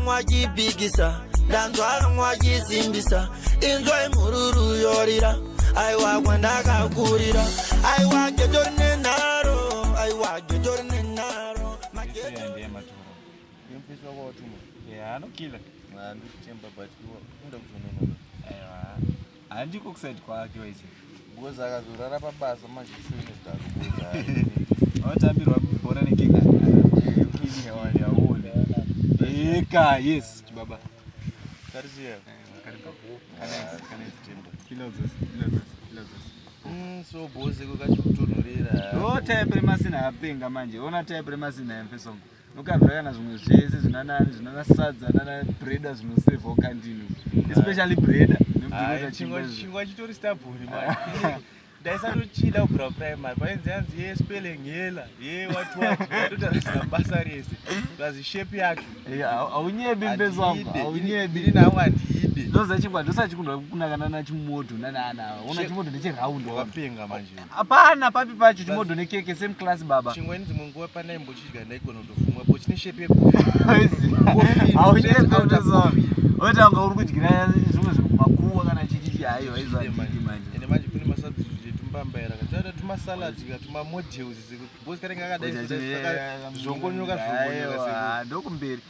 mwajibigisa ndanzwa mwajisimbisa inzwai mururu yorira aiwa kwandakakurira aiwa getori nenharo aiwa getori nenharo anokila andichemba but kuda kuzononona handiko kusaid kwake waise because akazorara pabasa mazvishuinezvaatambirwa bhora nekekaone eka yes chibaba eh, mm, so boze kwakachiutonhorera no type remasina apenga manje ona type remasina yamfesongo nokabva kana zvimwe zvese zvinanani zvinana sadza nana breda zvinosevhawo kandini especially breda nekuchingwa chitori stabhuri ndaisatochida kubvira primary painzi yanzi ye spelling yela ye watwatotarisira basa rese plus shape yacho haunyebi mbezo wangu haunyebi ini nangu handiidi ndoziva chingwa ndosachikundwa kunakana nachimoto nanaana ona chimoto ndechiround wapenga manje hapana papi pacho chimodho nekeke same class baba chingweni dzimwe nguva pana imbochidya ndaigona kutofumwa bo chine shape yekuoita unga uri kudyira zvimwe zviri kumakuwa kana chichichi hayo haizvadii manje ende manje kune masubstitute etumbambaira kataita tumasalad tumamodules because kanenge akadaizvongonyoka zvongonyoka ndokumberi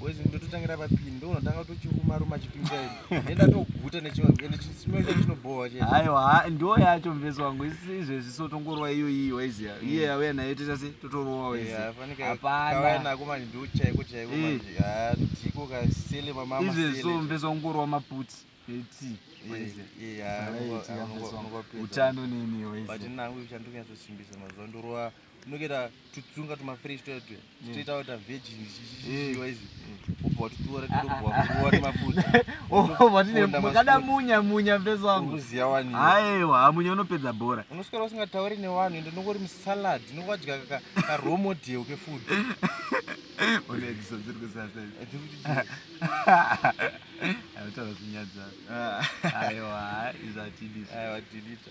boys ndototangira papini ndonotanga kutochiruma ruma chipinza ini nenda toguta nechimwe chinobhowa che aiwa ndo yacho mvesi wangu izvezvi so tongorwa iyo iyi waiziya mm. iye yauya nayo toita se totorowa waiziyaapanaako manje ndo chaiko chaiko eh. manje ah, ndiko kasele mamama izvezvi so mvesi wangu ngorwa maputi eti utano nini waiziya but nangu uchandikunyatsosimbisa mazuva ndorwa tinokuita tutsunga tumafresh tuya tuya titoita mm. wata virgin zvichichiwa izvi ubva watutora titobva nemafuta makada munya munya mfesi wangu uziya wani aiwa hamunya unopedza bhora unoswera usingatauri newanhu ende unongori musalad unongodya karomodel kefood unedziso dziri kusasa autaura zvinyadza aiwa izvatidisa aiwa tidita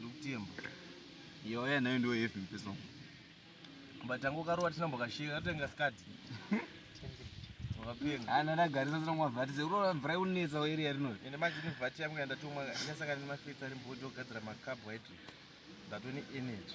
Ndokutemba. Yo ya nayo ndio heavy mpeso. But tangu karowa tinambo kashika katenga skati. Wakapenga. Ana ah, ndagarisa zino mwa vati zero mvura yonetsa wa area rino. Ende manje ni vati yangu yandatomwa yasanga ni mafetsa ari mbojo gadzira ma carbohydrate. Ndatoni energy.